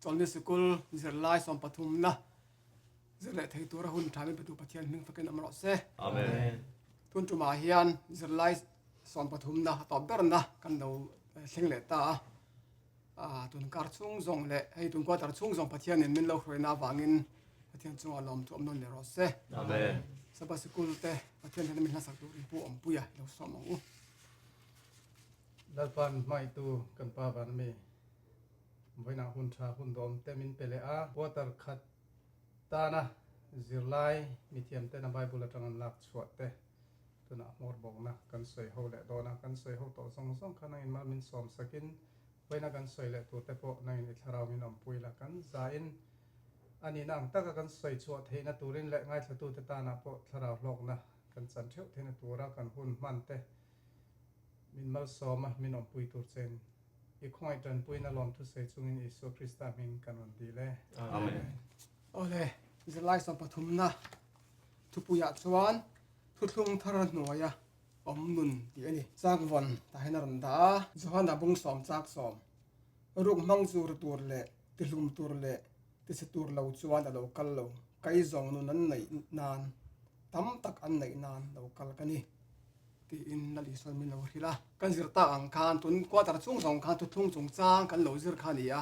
Chawlhni Sikul zirlai sawm pathumna zir leh thei tura hun thamin Patu Pathian hming fakin awm rawh se. Amen. Tun tumah hian zirlai sawm pathumna a tawp berna kan lo eh, thleng leh ta a. Ah, tunkar chhung zawng leh hei tunkual tar chhung zawng Pathianin min lo hruaina avangin Pathian chungah lawm chu awm nawn leh rawh se. Amen. Sabbath sikul te Pathian hian min hlasak tur in pu awmpui a, i lo sawm ang u. Lalpan hmaitu kan pa vân ami vawiinah hun ṭha hun dawm te min pe leh a, quarter khat tâna zirlai mithiamtena Bible aṭang an lâk chhuah te, tunah hmawr bawkna kan sawi ho leh dawn a, kan sawi ho tawh zawng zawng kha nangin mal min sawm sakin vawiina kan sawi leh tur te pawh nangin i thlarau min awm pui la, kan zain a nihna ang taka kan sawi chhuah theihna turin leh ngaithlatute tânah pawh thlarau hlawkna kan chan ṭheuh theihna tura kan hun hman te Min malsawm a, min awmpui tur chen i khawngaih tanpuina lawmthusei chungin Isua Krista hmin kan rawn dih le. Amen. Awle, zirlaisawm pathumna thupuiah chuan thuthlung thar a hnuai a awm nun tih a ni. Chakvawn tahin a rawn dah a. Johana bungsawm chak sawm ruk hmang zur tur leh tihlum tur leh tise tur lo chuan a lo kal lo. Kai zawng nun an neih nan tam tak an neih nan lo kal ka ni. Tiin Lali sawn min lo hrilh a, kan zir tak ang khan tun quarter chhung zawng khan thuthlung chung chang kan lo zir kha a ni a,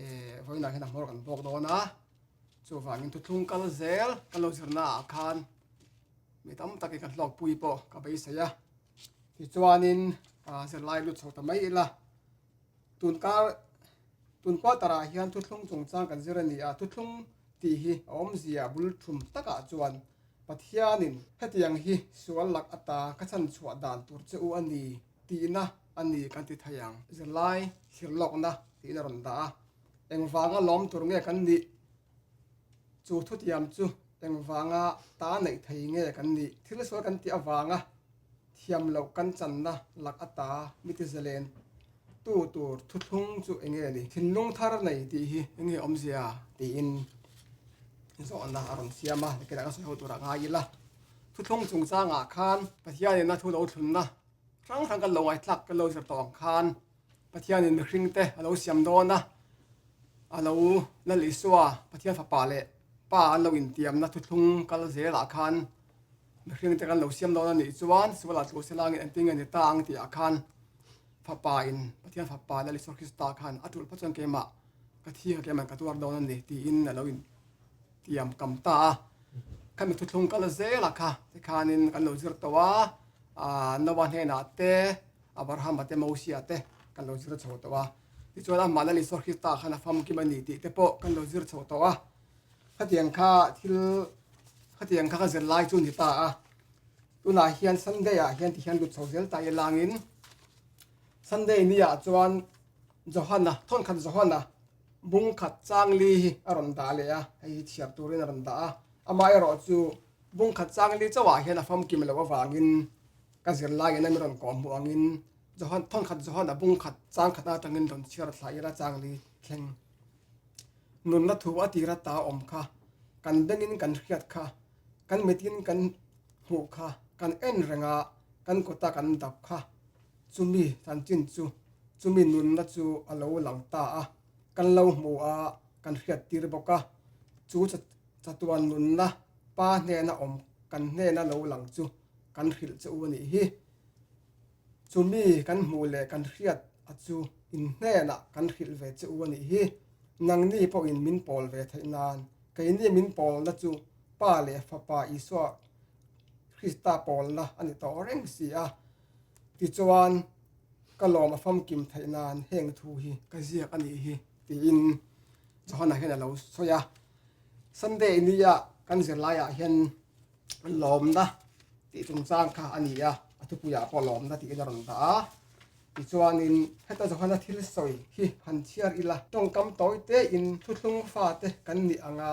e vawiinah hian a hmawr kan bawk dawn a, chuvangin thuthlung kal zel kan lo zir naah khan mi tam takin kan hlawk pui pawh ka beisei a, tichuanin zirlai lut chho ta mai ila. Tun kar, tun quarter ah hian thuthlung chungchang kan zir a ni a, thuthlung tih hi a awmzia bul thum takah chuan Pathianin hetiang hi sual lak ata ka chhan chhuah dan tur che u a ni tihna a ni kan ti thei ang. Zirlai thlir lawkna tihna rawn dah a, engvanga lawm tur nge kan nih? Chu thutiam chu engvanga ta neih thei nge kan nih? Thil sual kan tih avanga. thiam loh kan channa lak ata mitizelen tu tur thuthlung chu enge a ni? Thinlung thar nei tih hi enge awmzia? tiin zawhna a rawn siam a, biakin a ka sawi ho turah ngai ila. Thuthlung chungchangah khan Pathianin a thu lo thlunna hrang hrang kan lo ngaihtlak, kan lo zir tawh ang khan Pathianin mihringte a lo siam dawn a, a lo Lal Isua, Pathian Fapa leh Pa an lo intiamna thuthlung kal zelah khan, Hring te kan lo siam dawn a nih chuan Suala tlu se langin engtin nge ni ta ang tih ah khan Fapa in, Pathian Fapa leh Isua Krista khan a tulh phawt chuan keimah ka thi ka keiman ka tuar dawn a ni tiin a lo in tiam kam ta a. Khan mithu thlung kal zela kha te khanin kan lo zir tawh a, Noah hnenah te, Abrahama te, Mosia te kan lo zir chho tawh a. Tichuan amah leh Isua Krista khan a famkim a ni tih te pawh kan lo zir chho tawh a. Khatiang kha thil khatiang kha ka zir lai chu ni ta a. Tunah hian Sunday ah hian tihian lut chho zel ta i langin Sunday ni ah chuan Johanna, thawn khat Johanna bung khat chang li hi a rawn dah leh a, hei hi chhiar turin a rawn dah a. Amah erawh chu bung khat chang li chauh ah hian a famkim loh avangin ka zir lai in a min rawn kawh hmuh angin Johanna, thawn khat Johanna bung khat chang khat atangin rawn chhiar thlai ila chang li thleng. nunna thu a tira ta awm kha, kan bengin kan hriat kha, kan mitin kan hmuh kha, kan en renga kan kawta kan dap kha, chumi chanchin chu chumi nunna chu a lo lang ta a, kan lo hmu a, kan hriat tir bawk a, chu chatuan nunna Pa hnena awm kan hnena lo lang chu kan hrilh che u a nih hi. Chumi kan hmuh leh kan hriat a chu in hnenah kan hrilh ve che u a nih hi. Nangni pawhin min pawl ve theih nan, keini min pawlna chu Pa leh Fapa Isua Krista pawlna a ni tawh reng si a. Tichuan, ka lawm a famkim theih nan heng thu hi ka ziak a nih hi, tiin Johanna hian a lo sawi a. Sunday nia kan zirlaiah hian lawmna tih chungchang kha a ni a, a thupuiah pawh lawmna tiin a rawn dah a. Tichuanin heta Johana thil sawi hi han chhiar ila, tawngkam tawi tein thuthlung fate kan nih anga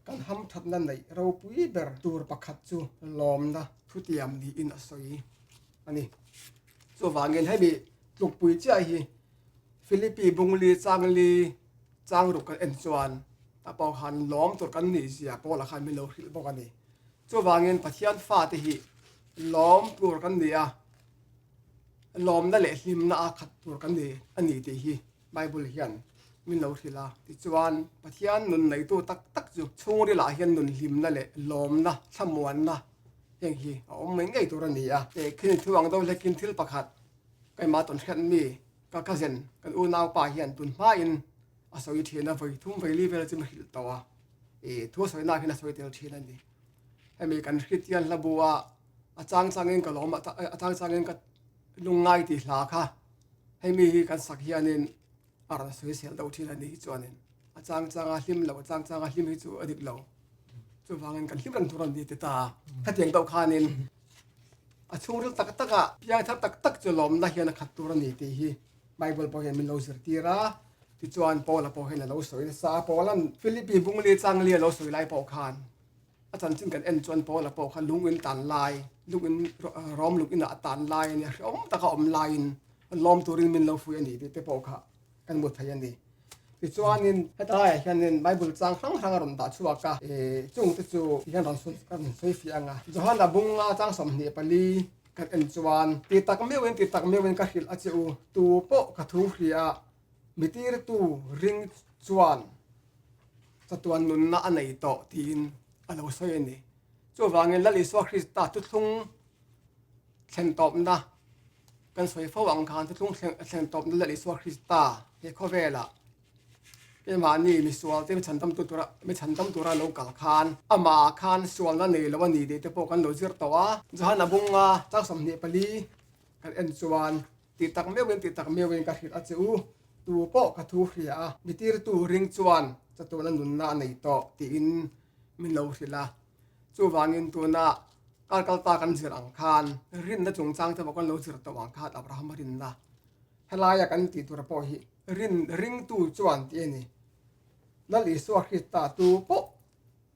kan hamthatna neih ropui ber tur pakhat chu lawmna thutiam niin a sawi a ni. Chuvangin hemi tlukpui chiah hi, Philippi Bungli Changli changruk kan en chuan tapawh han lawm tur kan nih zia Paula khan min lo hrilh bawk a ni. Chuvangin Pathian fate hi lawm tur kan ni a, lawmna leh hlimna a khat tur kan ni a ni tih hi Bible hian min lo hrilh a. Tichuan, Pathian nun neitu tak tak chu chhungrilah hian nun hlimna leh lawmna, thlamuanna heng hi a awm mai ngei tur a ni a. Khenkhin thuang deuh hlekin thil pakhat. Keimah tawn hriat mi ka cousin kan unaupa hian tun hmain a sawi thin a, vawi thum vawi li vel chu ma hrilh tawh a, i thu a sawi nakhin a sawi tel thin a ni. Hemi kan hri tial hla bu a, a chang changin ka lawm a chang changin ka lungngai tih hla kha hemi hi kan sak hianin a rawn sawi sel deuh thin a nih hi chuanin a chang chang a hlim lo a chang chang a hlim hi chu a dik lo chuvangin kan hlim ran tur an ni ti ta khatiang deuh khanin a chhungril tak taka piangthar tak tak chu lawmna hian a khat tur a ni tih hi bible pawh hian min lo zir tir a tichuan paula pawh hian a lo sawi nasa a paula philippi bungli changli a lo sawi lai pawh khan a chanchin kan en chuan paula pawh khan lungin tan lai lungin rawm lukinah a tan lai a nia hre awm taka awm laiin Lawm turin min lo fuih a nih tih te pawh kha kan hmu thei a ni. Tichuanin hetilaiah hianin Bible chang hrang hrang a rawn dah chhuak a, i chungte chu ti hian rawn sawi kan sawi fiah ang a, Johan a bung nga chang sawm hnih pali kan en chuan ti tak meuhin ti tak meuhin ka hrilh a che u, tu pawh ka thu hria a, mi tirtu ring chuan chatuan nunna a nei tawh tiin a lo sawi a ni. Chuvangin Lal Isua Krista tuthlung thlen tawpna kan sawi fo ang khan chu chung thleng thlen tawpna leh Isua Krista he khawvela keimahni misual te mi chhan tam tu tura mi chhan tam tura lo kal khan amah khan sualna nei lo a ni tih te pawh kan lo zir tawh a Johan a bunga chau sawmhnih pali kan en chuan ti tak meuhin ti tak meuhin ka hrilh a che u tu pawh ka thu hria a mi tirtu ring chuan chatuana nunna a nei tawh tiin min lo hrilh a. Chuvangin tuna kal kalpa kan zir ang khan rinna chungchang te pawh kan lo zir tawh ang khan Abrahama rin la. Helaia kan tih tur pawh hi rin ringtu chuan tih a ni. Lal Isua Krista tu pawh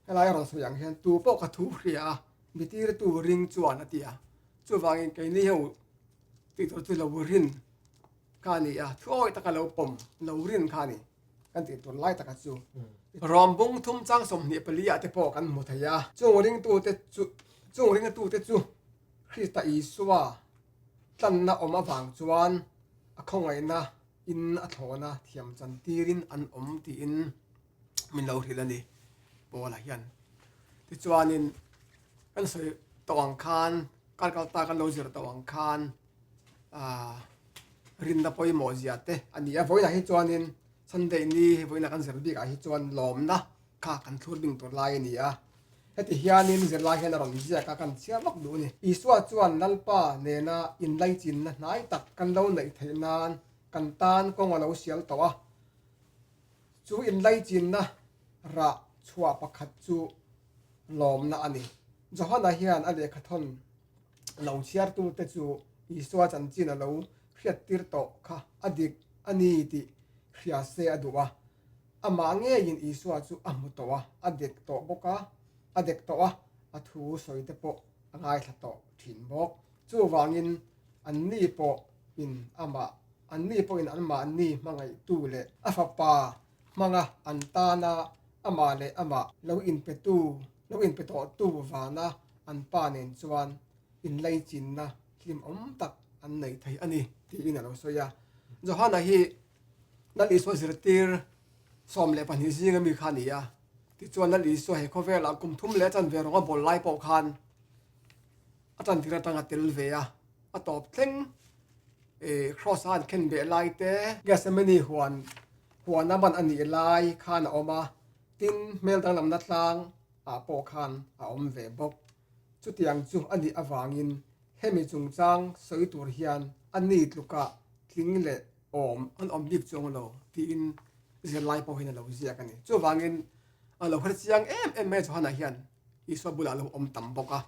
helaia rawn sawi ang hian tu pawh ka thu hria a, mi tirtu ring chuan a ti a. Chuvangin keini ho tih tur chu lo rin kha a ni a, thuawih taka lo pawm lo rin kha a ni. kan tih tur lai taka chu Rawmbung thumchang sawmhnih paliah te pawh kan hmu thei a. Chung ringtute chu Chung ringtute chu Krista Isua tlanna awm avang chuan a khawngaihna in a thlawna thiam chan tirin an awm tiin min lo hrilh a ni. Paula hian tichuanin kan sawi tawh ang khan, Calcutta kan lo zir tawh ang khan, rinna pawimawh ziah te a ni a. Vawiinah hi chuanin Sunday ni hei vawiina kan zir bikah hi chuan lawmna kha kan thlur ding tur lai a ni a. Heti hianin zirlai hian a rawn ziak a, kan chhiar vak duh a ni. Isua chuan Lalpa nena inlaichinna hnai tak kan lo neih theih nan kan tan kawng a lo sial tawh a. Chu inlaichinna rah chhuah pakhat chu lawmna a ni. Johana hian a lehkha thawn. lo chhiartute chu Isua chanchin a lo hriattir tawh kha a dik a ni tih hria se a duh a. Amah ngeiin Isua chu a hmu tawh a, a dek tawh bawk a, a dek tawh a, a thu sawite pawh a ngaithla tawh thin bawk. Chuvangin, anni pawhin amah, anni pawhin anmahni hmangaihtu leh a Fapa hmanga an tana amah leh amah lo inpetu lo inpe tawhtu vana an pa nen chuan inleichinna hlimawm tak an nei thei a ni tiin a lo sawi a. Johana hi Nal Isua zirtir sawm leh pahnih zinga mi kha a ni a, tichuan Nal Isua he khawvelah kum thum leh a chanve rawnga bawl lai pawh khan, A chantir atang a tel ve a, a tawp thleng i, Kraws-a an khen beh lai te, Gethsemane huan huana ban a nih lai khan a awm a, tin, hmel danglamna tlang ah pawh khan a awm ve bawk. Chutiang chu a nih avangin hemi chungchang sawi tur hian a ni tlukah tling leh awm an awm bik chu a ngu lo, tiin zirlai pawhin a lo ziak a ni. Chuvangin a lo hre chiang em em mai a chawhanah hian. Isua bulah lo awm tam bawk a,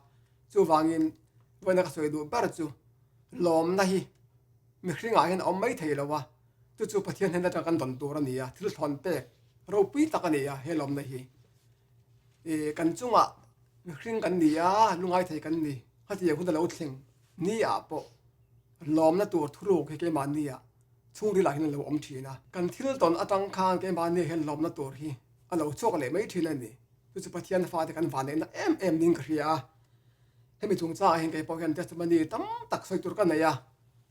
chuvangin vawiina ka sawi duh ber chu lawmna hi mihringah hian a awm mai thei lo a, chu chu Pathian hnen atanga kan dawn tur a ni a, thil thlawn pek ropui tak a ni a he lawmna hi. I kan chungah mihring kan ni a, lungai thei kan ni, khatiang hun a lo thleng ni ah pawh lawmna tur thuruk hi keimahniah chhungrilah hian a lo awm thin a, kan thil tawn atang khan keimahni hian lawmna tur hi a lo chhuak leh mai thin a ni. chu chu Pathian fate kan vah neihna em em ding ka hria a, hemi chung chang ahin kei pawh hian testimony tam tak sawi tur ka nei a,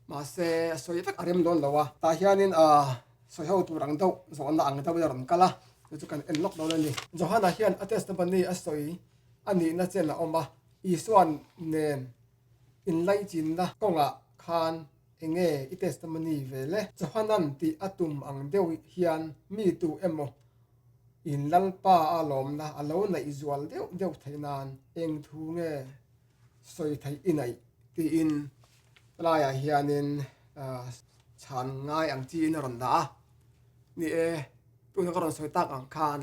mahse a sawi vek a rem dawn lo a, tah hianin a sawi ho tur ang deuh zawhna ang deuhin a rawn kal a, chu chu kan en lawk dawn a ni. Johana hian a testimony a sawi a nihna chen a awm a, Isua nen inlaichînna kawngah khan eng nge i testimony ve le? Johanan tih a tum ang deuh hian mi tu emaw, In Lalpa a lawmna a lo naih zual deuh deuh theih nan eng thu nge sawi theih i naih? tiin laiah hianin chhan ngai ang chi in a rawn dah a. Ni e, tuna ka rawn sawi tak ang khan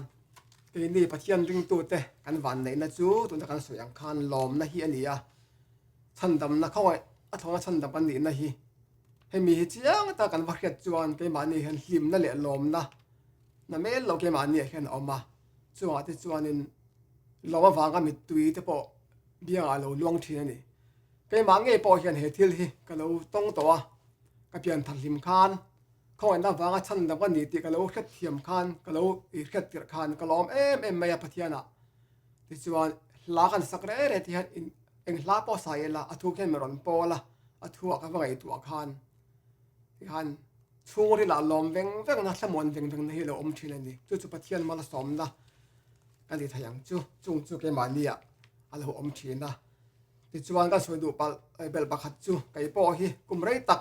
keini Pathian ringtute kan vanneihna chu tuna kan sawi ang khan lawmna hi a ni a, chhandamna khaw a thawng a chhandam kan nihna hi. Hemi hi chiang ta kan va hriat chuan keimahni hian hlimna leh lawmna na mel lo keimahni ah hian a awm a. Chungah te chuanin lawm avanga mittui te pawh biangah a lo luang thin a ni. Keimah ngei pawh hian he thil hi ka lo tawng tawh a, ka pian thar hlim khan khawngaihtna vanga chhan lo ka ni tih ka lo hriat thiam khan, ka lo hriat tirh khan ka lawm em em mai a Pathianah. Tichuan, hla kan sak reh reh te hian eng hla pawh sa i la, a thu khian min rawn pawl a, a thu a ka va ngaihtuah ah khan ti khan chhungril ah lawm veng veng na, thlamuan veng veng na hi a lo awm thin a ni. Chu chu Pathian hmala sawmna ka ni thei ang chu, chung chu keimahni ah a lo awm thin a. Tichuan kan sawi duh palh bel pakhat chu kei pawh hi kum rei tak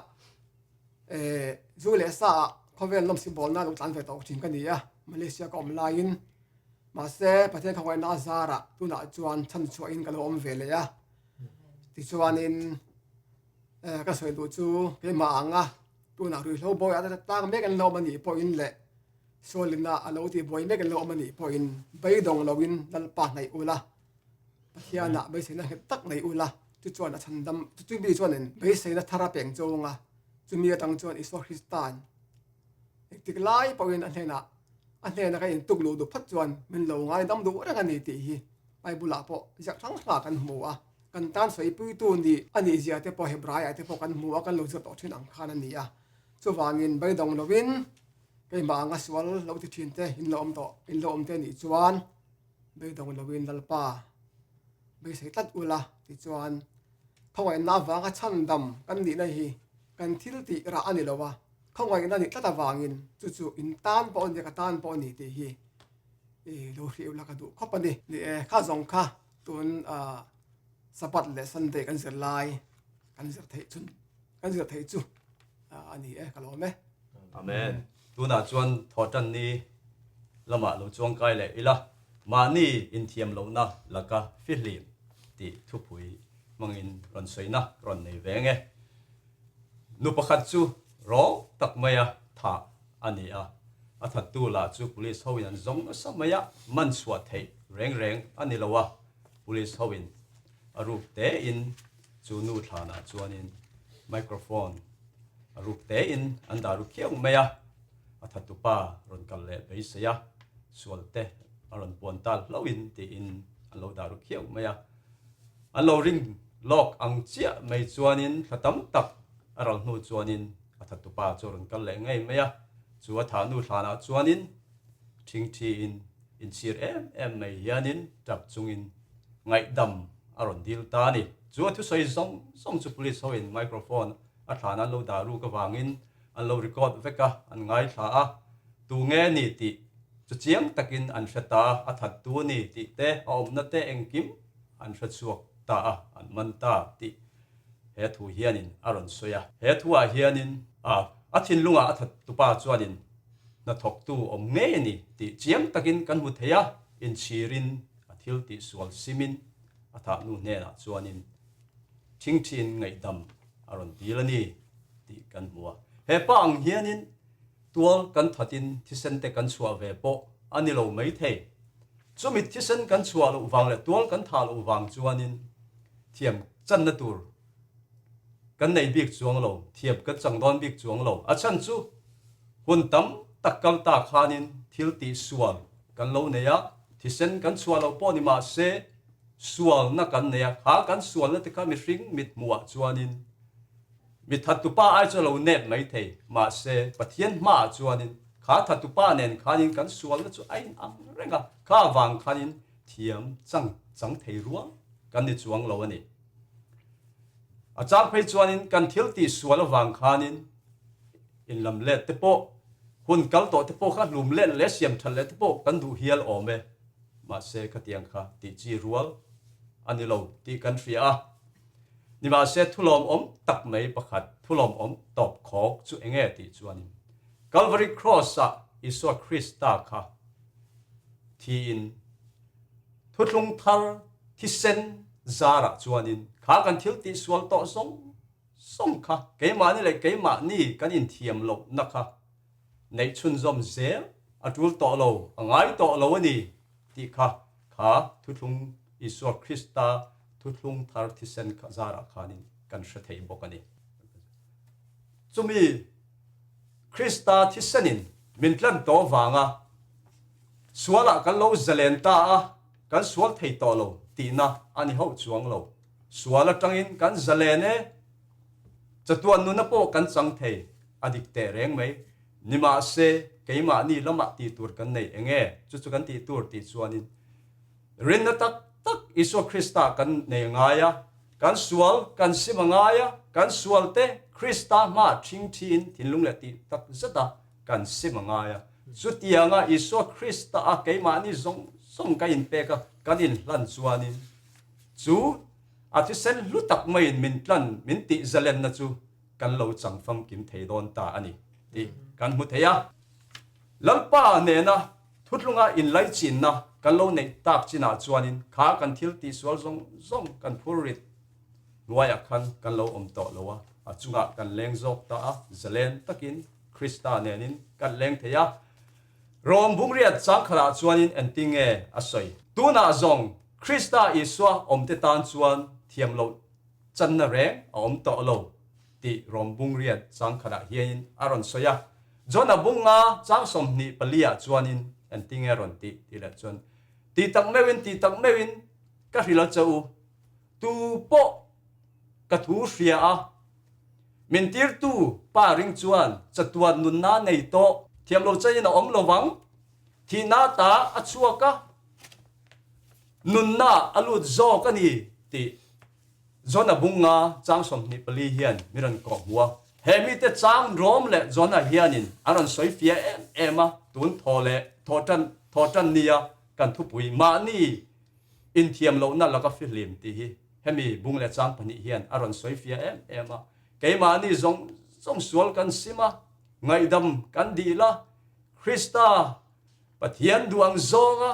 zu leh sa ah khawvel lawmsibawlna a lo tlan ve tawh thin ka ni a, Malaysia ka awm laiin. Mahse, Pathian khawngaihna a zarah tunah chuan chhan chhuahin ka lo awm ve leh a, tichuanin ka sawi duh chu keimah ang a, tunah ruihhlo bawiha a la tlang mek an lo awm anih pawhin leh Saulina a lo tihbuai mek an lo awm anih pawhin beidawng loin Lalpa hnaih ula, Pathiana beiseina nghet tak nei ula, chuchuan a chhandam, chuchumi chuan beiseina thar a peng chawng a, chumi atang chuan Isua Kristan, Dik dik lai pawhin a hnenah a hnena ka intuk luh duh phawt chuan min lo ngaidam duh reng a ni tih hi Bible-ah pawh ziah hrang hrangah kan hmu a. Kan tan sawipuitu ni a nih zia te pawh Hebraiah te pawh kan hmu a, kan lo ziah tawh thin ang khan a ni a. Chuvangin beidawng loin keimah anga sual lo ti thin te in lo awm tawh, in lo awmte nih chuan beidawng loin Lalpa beisei tlat ula ti chuan khawngaihna avanga chhandam kan nihna hi kan thil tih rah a ni lo a. Khawngaihna ni tlat avangin chu chu in tan pawh a ni, ka tan pawh a ni tih hi i lo hriat ula ka duh khawp a ni. Ni e, kha zawng kha tun Sabbath leh Sunday kan zir lai kan zir theih chu kan zir theih chu a ni e ka lawm e. Amen. Tunah chuan Thawhtanni lamah lo chuangkai leh ila mahni inthiam lohna laka fihlim tih thupui hmangin rawn sawi na ka rawn nei ve ang e. Nu pakhat chu rawng tak maia tha a ni a, a thattu lah chu police hoin an zawng nasa mai a, man chhuah theih reng reng a ni lo a, police hoin a ruk tein chu nu thlanah chuanin microphone a ruk tein an dah ru khiau mai a, a thattu pa rawn kal leh beisei a, sualte a rawn puan tal hlauhin tiin an lo dah ru khiau mai a. An lo ring lawk ang chiah mai chuanin thla tam tak a ral hnu chuanin a tha tupa chu a rawn kal leh ngei mai a. Chu a tha hnu hlanah chuanin thing thiin inchhir em em mai hianin truck chungin ngaihdam a rawn dil ta a ni. Chu a thusawi zawng zawng chu police hoin microphone a thlan an lo dah ruk avangin, an lo record vek a, an ngaithla a, tu nge ni tih chu chiang takin an hre ta, a that tu ni tih te, a awmna te engkim an hre chhuak ta a, an man ta tih he thu hianin a rawn sawi a. He thuah hianin a a thinlungah a that tu pa chuanin hnathawk tu awm nge ni tih chiang takin kan hmu thei a, inchhirin a thil tih sual simin a thahnu hnenah chuanin, Thingthin ngaihdam a rawn tir a ni tih kan hmu a, hepa ang hianin tual kan thatin thisente kan chhuah ve pawh a ni lo mai thei. Chu mit thisen kan chhuah loh vang leh tual kan thah loh vang chuanin thiam channa tur kan nei bik chuang lo, thiam kan chang dawn bik chuang lo. A chhan chu hun tam tak kal ta khanin thil tih sual kan lo nei a, thisen kan chhuah loh pawh ni mah se, Sualna kan nei a, khang kan sualna te kha mihring mit hmuhah chuanin mi thatupa ai chu a lo nep mai thei, mahse Pathian hmaah chuanin kha thatupa nen khanin kan sualna chu a inang reng a, kha avang khanin thiam chang chang thei rual kan ni chuang lo a ni. A chang phei chuanin kan thiltih sual avang khanin, In lam let te pawh, hun kal tawh te pawh kha hlum let leh siam that leh te pawh kan duh hial awm e. Mahse khatiang kha tih chi rual a ni lo tih kan hria a. Nimahse thulawm awm tak mai pakhat, thulawm awm tawp khawk chu eng nge tih chuanin Calvary Cross-ah Isua Krista kha thiin thuthlung thar thisen zarah chuanin kha kan thil tih sual tawh zawng zawng kha keimahni leh keimahni kan inthiam loh na kha neih chhunzawm zel a tul tawh lo, a ngai tawh lo a ni tih kha kha Thuthlung Isua Krista Thuthlung Thar Thisen kha zarah khanin kan hre thei bawk a ni. Chumi Krista Thisenin min tlan tawh vanga sualah kan lo zalen ta a, kan sual thei tawh lo tihna a ni hauh chuang lo. Sual atangin kan za len e, chatuan nuna pawh kan chang thei a dik teh reng mai. Nimahse keimahni lamah ti tur kan neih eng e? Chu chu kan ti tur tih chuanin rinna tak tak Isua Kristah kan nei a ngai a, kan sual kan sim a ngai a, kan sualte Krista hmaah ṭhing ṭhiin thinlung leh tih tak zeta kan sim a ngai a. Chutianga Isua Krista a keimahni zawng zawng ka inpek a, kan inhlan chuanin chu a thisen hlu tak maiin min tlan, min tihzalenna chu kan lo chang famkim thei dawn ta a ni tih kan hmu thei a. Lalpa nena thutlunga inlaichinnaa kan lo neih tak chinah chuanin kha kan thil tihsual zawng zawng kan phur rit Hnuaiah khan kan lo awm tawh lo a, a chungah kan leng zawk ta a, zalen takin Krista nenin kan leng thei a. Rom bumriat changkhalah chuanin engtin nge a sawi? Tunah zawng Krista Isua awmte tan chuan thiam loh channa reng a awm tawh lo tih Rom bumriat changkhatah hianin a rawn sawi a. John a bung nga chang sawmhnih paliah chuanin engtin nge a rawn tih? Tih leh chuan, Ti tak meuhin, ti tak meuhin ka hrilh a che u. Tu pawh ka thu hria a, min tirtu pa ring chuan chatuan nunna nei tawh, thiam lo chaiin a awm lovang, thihna ta a chhuak a, nunna a lut zawk a ni, tih John a bunga chang sawmhnih pali hian min rawn kawh hmu a. He mite chang rawm leh John-a hianin an rawn sawi fia em em a, tun thaw leh thaw tan, thaw tan nia kan thupui, mahni Inthiam lohna laka fihlim tih hi hemi bung leh chang pahnih hian a rawn sawi fia em em a. Keimahni zawng zawng sual kan sim a, ngaihdam kan dih la, Krista Pathian duhang zawnga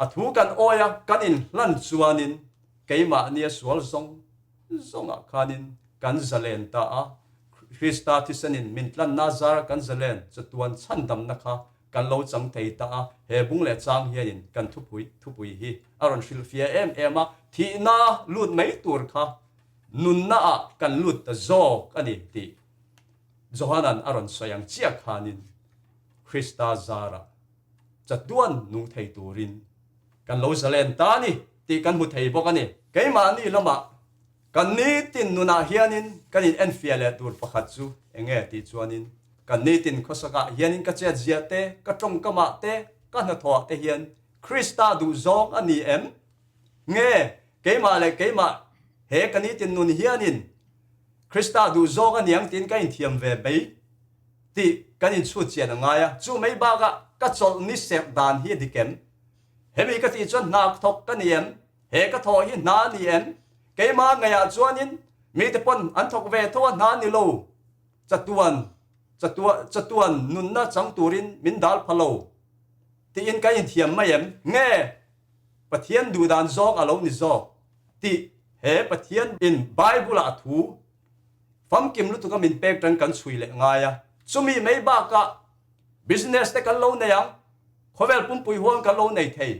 a thu kan awi a, kan inhlan chuanin keimahnia sual zawng zawngah khanin kan zalen ta a. Krista thisen in min tlanna zara kan zalen chatuan chhandamna kha Kan lo chang thei ta a, he bung leh chang hianin kan thupui thupui hi a rawn hrilhfiah em em a, thihna lut mai tur kha nunna ah kan lut ta zawk a ni tih Johanan a rawn sawi ang chiah khanin Krista zarah chatuan nuh thei turin kan lo zalen ta a ni tih kan hmu thei bawk a ni. Keimahni lamah Kan nitin nunah hianin kan in enfiah leh tur pakhat chu eng nge tih chuanin, kan nitin khawsakah hianin ka chiatziah te, ka tawngkamah te, ka hnathawha te hian Krista duh zawng a ni em? Nge keimah leh keimah he ka nitin nun hianin Krista duh zawng a ni ang tiin ka inthiam ve mai? tih kan inchhutchian a ngai a. Chu mai bakah ka chawlh ni serh dan hi a dik em? Hemi ka tih chuan hna thawk ka ni em? He ka thawh hi hna ni en? Keimah ngaihah chuanin mite pawn an thawk ve tho a hna ni lo. Chatuan, chatuan, chatuan nunna chang turin min dal pha lo tiin ka inthiam mai em? Nge Pathian duhdan zawng a lo ni zawk tih he Pathian in Bible-ah thu famkim lutuk a min pek tan kan chhui leh ngai a, chumi mai bakah business te kan lo nei ang, khawvel pumpui huan kan lo nei thei.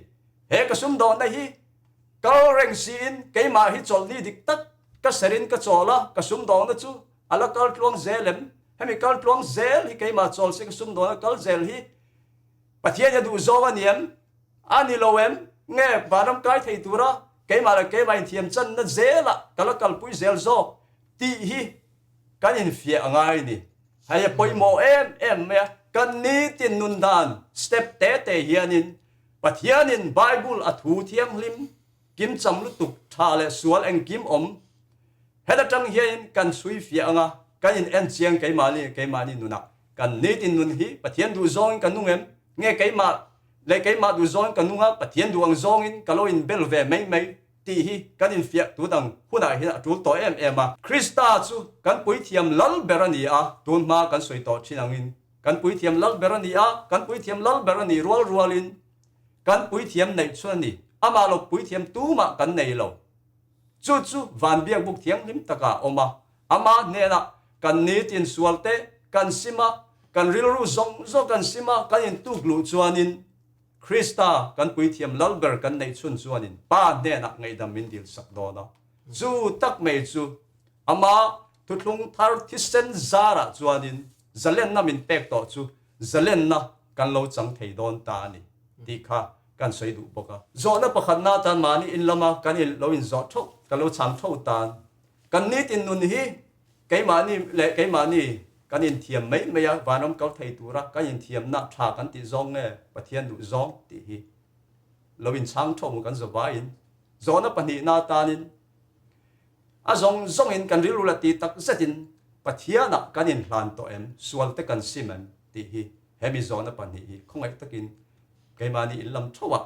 He ka sumdawhna hi kal reng siin keimah hi chawlhni dik tak ka serin ka chawl a, ka sumdawhna chu a la kal tluang zel em? Hemi kal tluang zel hi keimah chawl si ka sumdawhna kal zel hi, Pathian hi a duhzawng a ni em? A ni lo em? Nge vanram kai thei tura keimah leh keimah inthiamchanna zelah ka la kalpui zel zawk? tih hi kan infiah a ngai ni. Hei a pawimawh em em mai a. Kan nitin nun dan step te te hianin Pathianin Bible a thu thianghlim kim cham lutuk tha leh sual engkim awm heta tang hianin kan chhui fiah anga kan in en chiang keimahni nge keimahni nunah kan nitin nun hi Pathian duh zawngin ka nung em? Nge keimah leh keimah duh zawngin ka nung a, Pathian duh ang zawngin ka lo inbel ve mai mai? tih hi kan infiah tu dang hunah hian a tul tawh em em a. Krista chu kan puithiam lal ber a ni a, tun hma kan sawi tawh thin angin kan puithiam lal ber a ni a, kan puithiam lal ber a ni rual rualin kan puithiam neih chuan ni amah lo puithiam tumah kan nei lo. Chu chu van biakbuk thianghlim takah awm a, ama hnena kan ni tinsual te kan sim a, kan rilru zawng zawng kan sim a, kan intuk luh chuanin Krista kan puithiam lal ber kan neih chhun chuanin Pa hnenah ngaihdam min dil sak dawn a. Chu tak mai chu ama thuthlung thar thisen zarah chuanin zalenna min pek tawh chu zalenna kan lo chang thei dawn ta a ni tih kha kan sawi duh bawk a. Zawhna pakhatna atan mahni in lama kan in lo in zawh tho, kan lo chang tho tan kan nitin nun hi keimahni leh keimahni kan in thiam mai mai a, vanram kal thei tura kan in thiamna tha kan tih zawng nge Pathian duh zawng tih hi lo in chang tho kan zawh va in zawhna pahnihna atanin A zawng zawngin kan rilru la ti tak zetin Pathiana kan inhlan tawh em, sual te kan sim em tih hi hemi zawhna pahnih hi khawngaih takin keimahni in lam theuha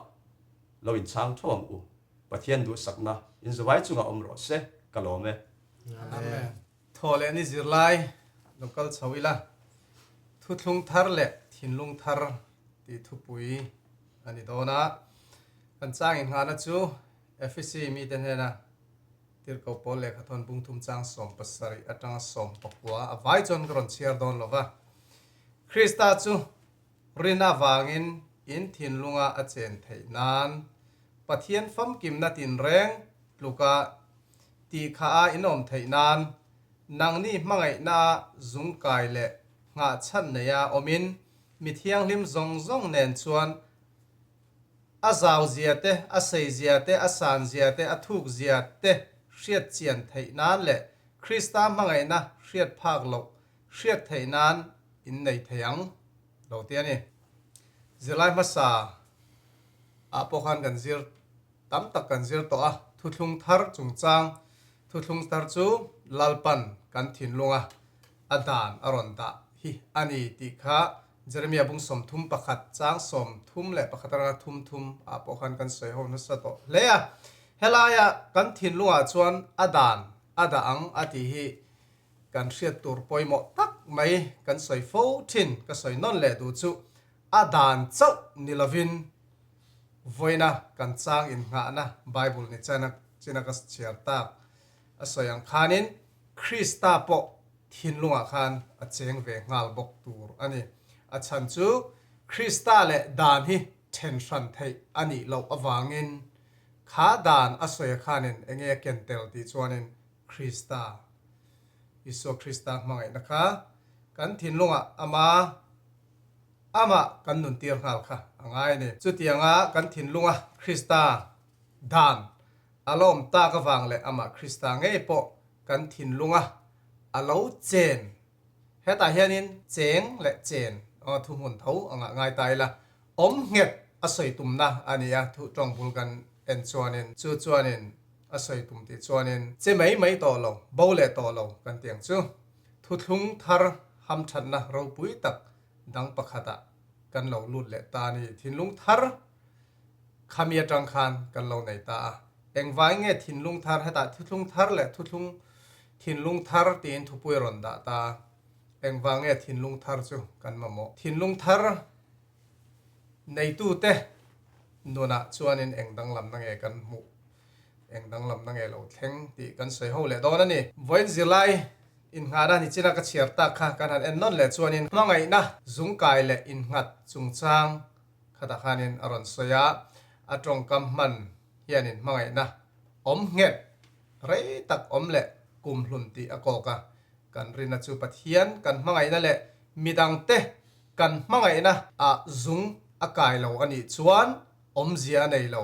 lo inchang theuh ang u. Pathian duhsakna in zavai chungah awm rawh se ka lawm e. Amen. Thaw leh ni zirlai lo kal chho ila, thuthlung thar leh thinlung thar tih thupui a ni dawn a, kan chang inghahna chu Efesi mite hnena tirhkoh pawl leh khathawn pungthum chang sawm pasarih atanga sawm pakua a vai chuan ka rawn chhiar dawn lo va. Krista chu rin avangin in thinlunga a chen theih nan Pathian famkimna tinreng tluka tih kha a inawm theih nan nangni hmangaihna a zung kai leh nghahchhan neia awmin mi thianghlim zawng zawng nen chuan A zau zia te, a sei zia te, a san zia te, a thuk zia te hriat chian theih nan leh Krista hmangaihna hriat phak loh hriat theih nan in nei thei ang lo te a ni. Zirlai hmasa ah pawh khan kan zir tam tak kan zir tawh a, thuthlung thar chungchang thuthlung thar chu Lalpan kan thinlung a a dan a rawn dah hi a ni tih kha Jeremia bung sawmthum pakhat chang sawmthum leh pakhat atanga thum thum ah pawh khan kan sawi ho nasa tawh hle a. Helai ah kan thinlungah chuan a dan a dah ang a tih hi kan hriat tur pawimawh tak mai kan sawi fo thin. Ka sawi nawn leh duh chu a dan chauh ni lovin vawiina kan chang in nghahna Bible ni china ka chhiar tak a sawi ang khanin, Krista pawh thinlungah khan a cheng ve nghal bawk tur a ni. A chhan chu Krista leh dan hi then hran theih a nih loh avangin kha dan a sawi a khanin enge a ken tel tih chuanin Krista, Isua Krista hmangaihna kha kan thinlungah ama amah kan nun tir nghal kha a ngai a ni. Chutianga kan thinlunga Krista dan a lawm tak avang leh amah Krista ngei pawh kan thinlunga a lo chen. Hetah hianin cheng leh chen thuhmun tho a ngah ngai ta ila, awm nghet a sawi tumna a ni a, thu tawng bul kan en chuanin chu chuanin a sawi tum tih chuanin che mai mai tawh lo, bo leh tawh lo kan ti ang chu. Thuthlung thar hamthatna ropui tak dang pakhatah kan lo lut leh ta a ni. Thinlung thar. Khami atang khan kan lo nei ta a, engvai nge thinlung thar hetah thuthlung thar leh thuthlung thinlung thar tiin thupui rawn dah ta a, engvang nge thinlung thar chu kan mamawh? Thinlung thar neitute nunah chuanin eng danglamna nge kan hmuh, eng danglamna nge lo thleng tih kan sawi ho leh dawn a ni. Vawiin zirlai innghana nichina ka chhiar tak kha kan han en nawn leh chuanin hmangaihna zungkai leh innghat chungchang khatah khanin a rawn sawi a, a tawngkam hman hianin hmangaihna awm nghet rei tak awm leh kum hlun tih a kawk a, kan rinna chu Pathian kan hmangaihna leh midangte kan hmangaihna ah zung a kai lo a nih chuan awmzia a nei lo,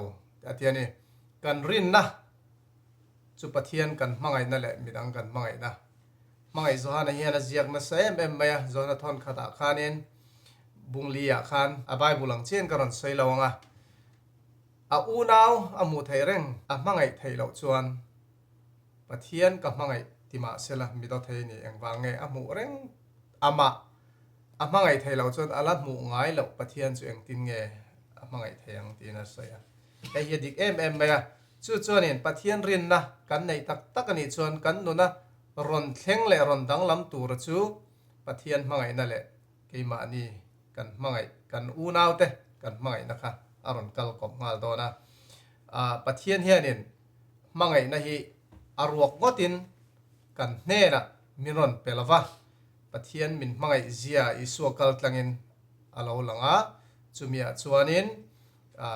a ti a ni. Kan rinna Chu Pathian kan hmangaihna leh midang kan hmangaihna hmangaih Johana hian a ziak nasa em em mai a. Johana thawnkhat ah khanin Bungli ah khan a Bible ang chian ka rawn sawi lo ang a, a unau a hmuh theih reng a hmangaih theih loh chuan Pathian ka hmangaih ti mah se la mi Dothei nih engvang nge a hmuh reng amah a hmangaih theih loh chuan a la hmuh ngai loh Pathian chu engtin nge a hmangaih thei ang tiin a sawi a. Hei hi a dik em em mai a, chu chuanin Pathian rinna kan neih tak tak a nih chuan kan nuna rawn thleng leh rawn danglam tura chu Pathian hmangaihna leh keimahni kan hmangaih, kan unaute kan hmangaihna kha a rawn kal kawp nghal dawn a. Aah, Pathian hianin hmangaihna hi a ruak ngawtin kan hnenah min rawn pe lo va, Pathian min hmangaihzia Isua kaltlangin a lo lang a, chumi ah chuanin, A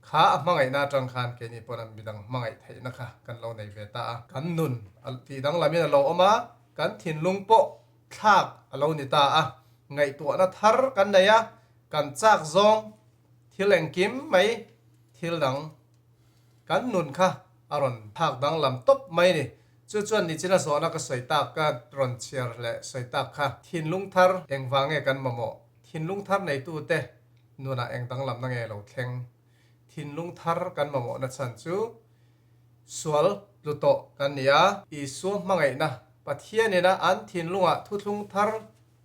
kha a hmangaihna atang khan keini pawn an midang hmangaih theihna kha kan lo nei ve ta a. Kan nun a tih danglamiin a lo awm a, kan thinlung pawh thlak a lo ni ta a. Ngaihtuahna thar kan nei a, kan chak zawng thil engkim mai thil dang kan nun kha a rawn thlak danglam tawp mai ni. Chu chuan nichina zawhna ka sawi tak, ka rawn chhiar leh sawi tak kha, thinlung thar engvange kan mamawh? Thinlung thar neitute Nunah eng danglam na nge lo thleng? Thinlung thar kan mamawhna chhan chu sual tlu tawh kan ni a. Isua hmangaihna, Pathian in a an thinlungah thuthlung thar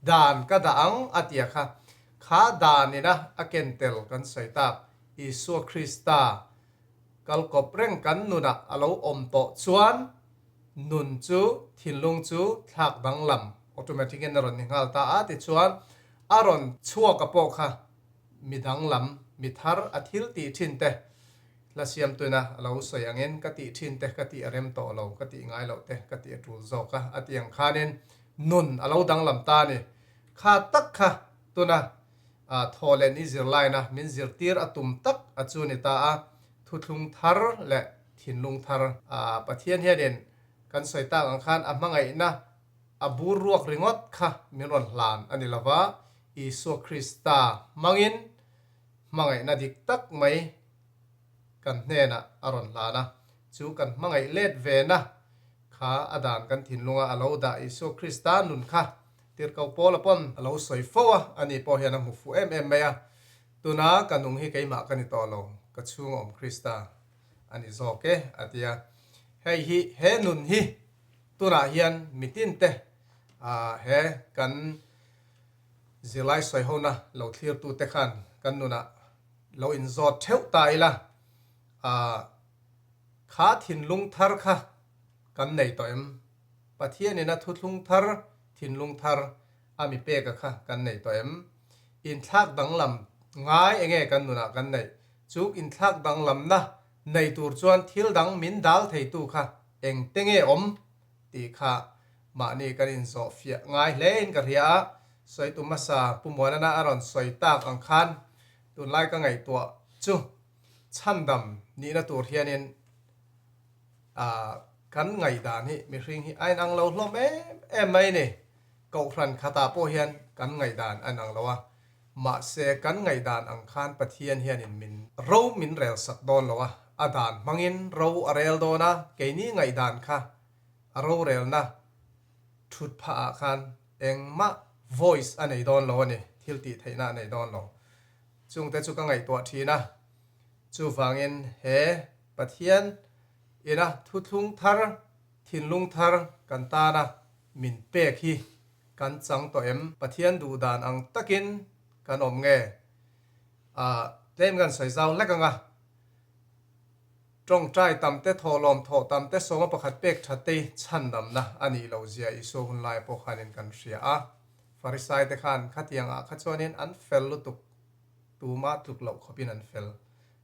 dan ka dah ang a tia kha, kha dan in a a ken tel kan sawi tak. Isua Krista. Kal kawp reng kan nunah a lo awm tawh chuan nun chu thinlung chu thlak danglam automatic in a rawn ni nghal ta a, tichuan a rawn chhuak a pawh kha mi danglam, mi thar a thil tih thin te hla siam tuna a lo sawi angin ka tih thin te ka tih a rem tawh lo, ka tih ngai loh te ka tih a tul zawk a, a ti ang khanin nun a lo danglam ta a ni. Kha tak kha tuna a thaw leh ni zir lain a min zir tir a tum tak a chu ni ta a, thuthlung thar leh thinlung thar. A Pathian hianin kan sawi tak ang khan a hmangaihna a bur ruak ringawt kha min rawn hlan a ni lo va, Isua Krista hmangin hmangaihna dik tak mai kan hnenah a rawn hlan a, chu kan hmangaih let ve na kha a dan kan thinlunga a lo dah Isua Krista nun kha Tirhkoh pawla pawn a lo sawi fo a, a ni pawh hian a hmu fuh em em mai a. Tuna ka nung hi keimah ka ni tawh lo, ka chhunga awm Krista a ni zawk e, a ti a. Hei hi, he nun hi tunah hian mi tinte he kan zirlai sawi hona lo thlirtute khan kan nunah lo inzawt theuh ta ila, kha thinlung thar kha, kan nei tawh em? Pathianin a thuthlung thar, thinlung thar a mi peka kha kan nei tawh em? Inthlak danglam ngai enge kan nunah kan neih? Chu inthlak danglamna nei tur chuan thil dang min dal theitu kha engte nge awm? tih kha mahni kan inzawh fiah ngai hlein ka hria a, Sawitu hmasa Pu Muanana a rawn sawi tak ang khan tunlai ka ngaihtuah chu chhandam nihna tur hianin Ahh kan ngaihdan hi mihring hi a inang lo hlawm em em mai ni. Kohhran khatah pawh hian kan ngaihdan a inang lo a, mahse kan ngaihdan ang khan Pathian hianin min ro min relsak dawn lo a, a dan hmangin ro a rel dawn a, keini ngaihdan kha a rorelna thut phahah khan engmah voice a nei dawn lo a ni, thil tih theihna a nei dawn lo. Chungte chu ka ngaihtuah thin a, chuvangin he. Pathian ina thuthlung thar, thinlung thar kan tana min pek hi kan chang tawh em? Pathian duh dan ang takin kan awm nge? A claim kan sawi zau hlek anga, tawngtai tam te, thawhlawm thawh tam te, sawma pakhat pek tha te chhan damna a nih lo zia Isua hun laia pawh khanin kan hria a. Farisai te khan khatiang ah kha chuanin an fel lutuk, tumah tluk loh khawpin an fel.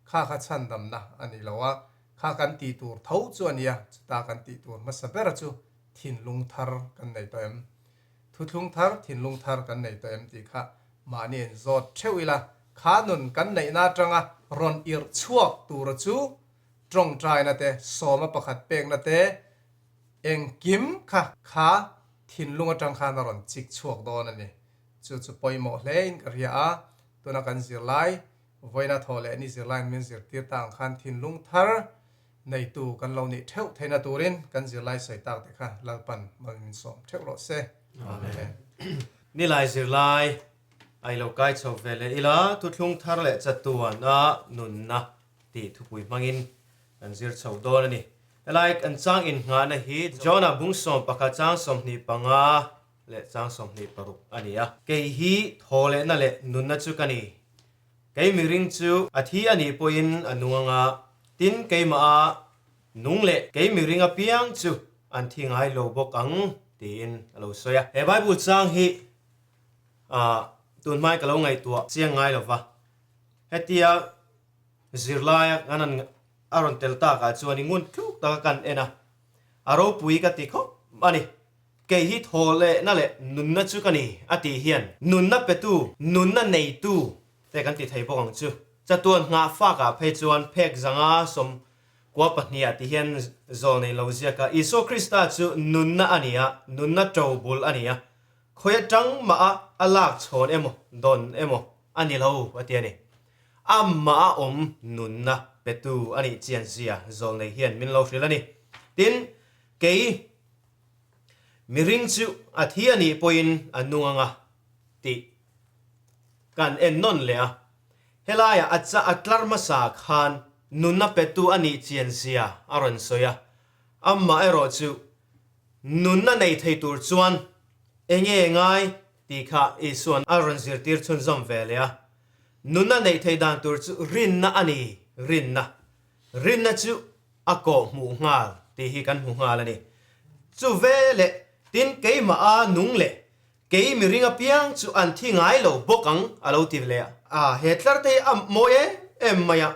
Kha kha chhan damna a ni lo a, kha kan tih tur tho chu a nia, chuta kan tih tur hmasa bera chu thinlung thar kan nei tawh em? Thuthlung thar, thinlung thar kan nei tawh em tih kha mahni a inzawt theuh ila, kha nun kan neihna atanga rawn irh chhuak tura chu tawngtaina te, sawma pakhat pekna te, engkim kha kha thinlung atang khan a rawn chik chhuak dawn a ni. Chu chu pawimawh hlein ka hria a, tuna kan zir lai, Vawiina thaw leh ni zirlaiin min zirtir ta ang khan thinlung thar neitu kan lo nih theuh theihna turin kan zirlai sawi tak te kha Lalpan mawin min sawm theuh rawh se. Amen. Nilai zirlai ai lo kai chho ve leh ila thuthlung thar leh chatuan a nunna tih thupui hmangin kan zir chho dawn a ni. Helai kan chang inngahna hi John-a bungsawm pakhat chang sawmhnih panga, leh chang sawmhnih paruk a ni a. Kei hi thaw lehna leh nunna chu ka ni. Keimik ring chu a thi a nih pawhin a nung anga, tin keimaha nung leh keimik ring apiang chu an thi ngai lo bawk ang tiin a lo sawi a. He Bible chang hi ah tun hmai ka lo ngaihtuah chiang ngai lo va, hetia zirlaia kan rawn a rawn tel takah chuan i ngun tluk taka kan en a, a ropui ka ti khawp a ni. Kei hi thaw lehna leh nunna chu ka ni a tih hian nunna petu, nunna neitu te kan ti thei bawk ang chu. Chatuan nghah fakah phei chuan phek zanga sawm kua pahniha tih hian zawl nei lo ziak a, Isua Krista chu nunna a ni a, nunna to bul a ni a, khawi atang maha a lak chhawn emaw dawn emaw a ni lo a ti a ni. Amah a awm nunna petu a nih chianzia zawl nei hian min lo hrilh a ni. Tin, kei. Mi ring chu a thi a nih pawhin a nung anga tih kan en nawn leh a. Helaiah a chah a tlar hmasa khan nuna petu a nih chianzia a rawn sawi a. Amah erawh chu nuna nei thei tur chuan e nge ngai tih kha Isuan a rawn zirtir chhunzawm ve leh a. Nuna neih thei dan tur chu rinna a ni, rinna. Rinna chu a kawh hmuh nghal tih hi kan hmu nghal a ni. Chu ve leh tin keimah a nung leh kei mi ring apiang chu an thi ngai lo bawk ang a lo ti leh a. Ah, he tlarte hi a mawi em em mai a,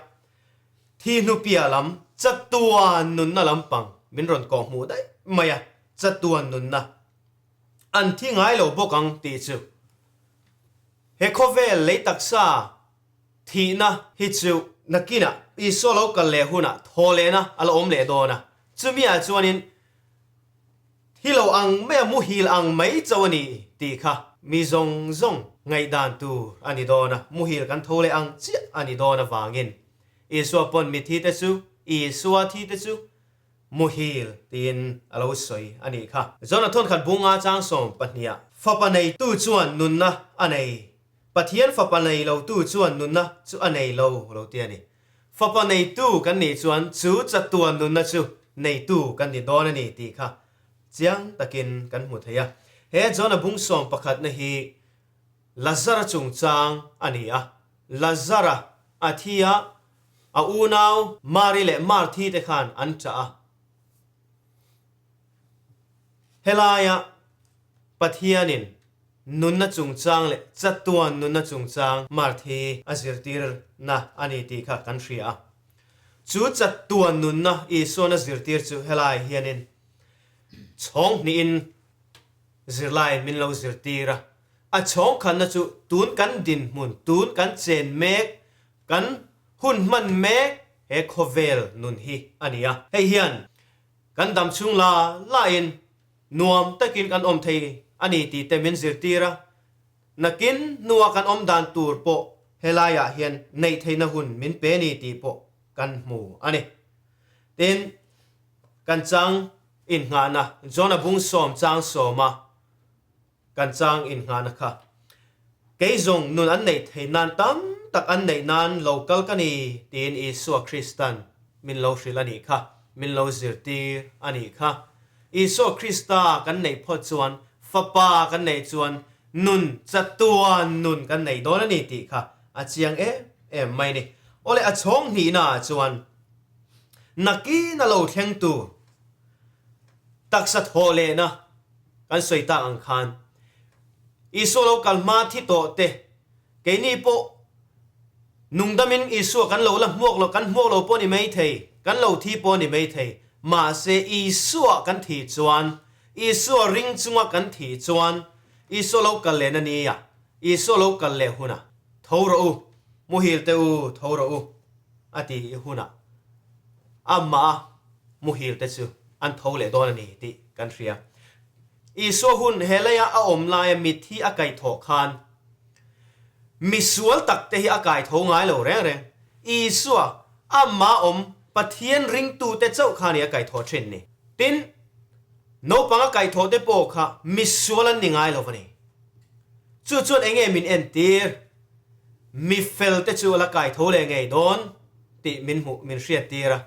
thi hnupia lam chatua nunna lampang min rawn kawh hmuh daih mai a, chatua nunna an thi ngai lo bawk ang tih chu he khawvel lei taksa Thihna hi chu nakinah Isua lo kal leh hunah thaw lehna a la awm leh dawn a, chumiah chuanin Hi lo ang maia muhil ang mai cho a ni tih kha mi zawng zawng ngaihdan tur a ni dawn a, muhil kan tho leh ang chiah a ni dawn avangin Isua pawn mithite chu Isua thite chu muhil tiin a lo sawi a nih kha. Jonah thawnkhat bunga chang sawm pahniha fapa neitu chuan nunna a nei Pathian fapa nei lo tu chuan nunna chu a nei lo lo ti a ni. Fapa neitu kan nih chuan chu chatuan nunna chu neitu kan ni dawn a ni tih kha chiang takin kan hmu thei a. He Jonah bungsawm pakhatna hi Lazara chungchang a ni a. Lazara a thi a, a unau Mari leh Marthi te khan an ṭah a. Helaiah Pathianin nunna chungchang leh chatuan nunna chungchang Marth hi a zirtirna a ni tih kha kan hria a. Chu chatuan nunna Isuan a zirtir chu helai hianin chhawngnihin zirlai min lo zirtir a, a chhawngkhanna chu tun kan dinhmun, tun kan chen mek, kan hun hman mek he khawvel nun hi a ni a. Hei hian kan dam chhung la lain nuam takin kan awm thei a ni tite min zirtir a, nakin hnua kan awm dan tur pawh helaiah hian neih theihna hun min pe ni tih pawh kan hmu a ni. Tin, kan chang inngahna John-a bung sawm chang sawma kan chang in nghahna kha kei zong nun an neih thei nan tam tak an neih nan lo kal ka ni tiin Isua Kristan min lo hrilh a nih kha, min lo zirtir a nih kha. Isua Krista kan neih phawt chuan Fapa kan neih chuan nun, Chatuaa nun kan neih dawn a ni tih kha a chiang em em mai ni. Awle a chhawng hnihna ah chuan nakin a lo thleng tur taksa thawh lehna, kan sawi ta ang khan Isua lo kal hma thi tawh te, keini pawh nungdamin Isua kan lo la hmuak lo, kan hmuak lo pawh ni mai thei, kan lo thi pawh ni mai thei. Mahse Isua kan thi chuan, Isua ring chunga kan thi chuan Isua lo kal lehna nia, Isua lo kal leh huna tho rawh u, muhil teh u, tho rawh u a ti i hunah amah a muhil te chu an tho leh dawn a ni tih kan hria. Isua hun he lei a a awm laia mit hi a kaih thawh khan misual tak te hi a kai tho ngai lo reng reng. Isua amah awm Pathian ringtute chauh kha nih a kaih thawh thin ni? Tin, naupang a kaih thawhte pawh kha misual an ni ngai lo a ni. Chu chuan enge min entir? Mifel te chu a la kai tho leh ngei dawn tih min hmuh min hriat tir a,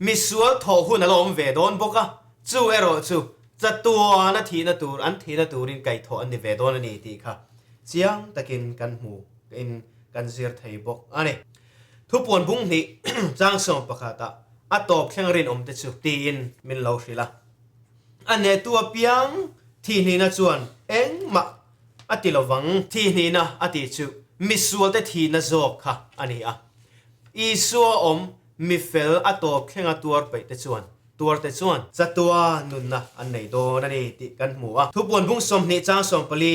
misual thawh hun a la awm ve dawn bawk a, chu erawh chu chatuana thihna tur an thihna turin kai thawh an ni ve dawn a ni tih kha chiang takin kan hmu in kan zir thei bawk a ni. Thupuan bung hnih changsawm pakhata a tawp thleng rinawm te chu tiin min lo hrilh a, a nehtu apiang thihnihna chuan engmah A ti lo vang, thi hnihna a tih chu misualte thihna zawk kha a ni a. Isua awm mi fel a tawp thlenga tuarpeihte chuan, tuarte chuan. Chatua nunna an nei dawn a ni tih kan hmu a. Thupuanbung sawmhnih chang sawmpali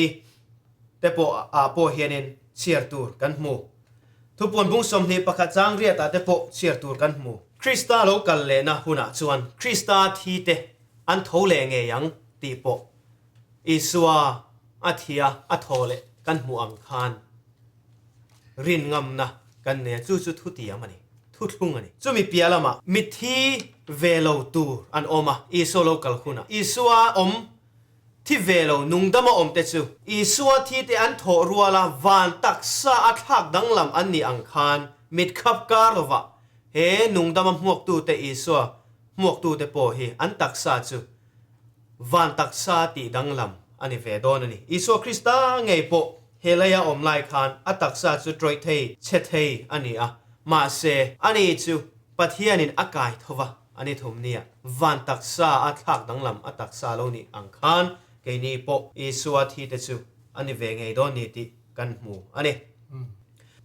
te pawh ah pawh hianin chhiar tur kan hmu. Thupuanbung sawmhnih pakhat chang riat ah te pawh chhiar tur kan hmu. Krista lo kal lehna hunah chuan Krista thite an tho leh ngei ang tih pawh Isua a thia a thaw leh kan hmuh ang khan rin ngamna kan nei a, chu chu thutiam a ni, thuthlung a ni. Chumi piah lamah mitthi ve lo tur an awm a, Isua lo kal hunah. Isua awm thi ve lo nungdam a awmte chu Isua thite an thawh rual a, van taksa a thlak danglam an nih ang khan mit khap kar lovah he nungdama hmuaktute Isua hmuaktute pawh hi an taksa chu Van taksa tih danglam a ni ve dawn a ni. Isua Krista ngei pawh he lei a awm lai khan a taksa chu ṭawih thei, chhe thei a ni a. Mahse, a ni chu Pathianin a kai tho va, a ni thum nia. Van taksa a thlak danglam a taksa lo nih ang khan keini pawh Isua thi te chu a ni ve ngei dawn ni tih kan hmu a ni.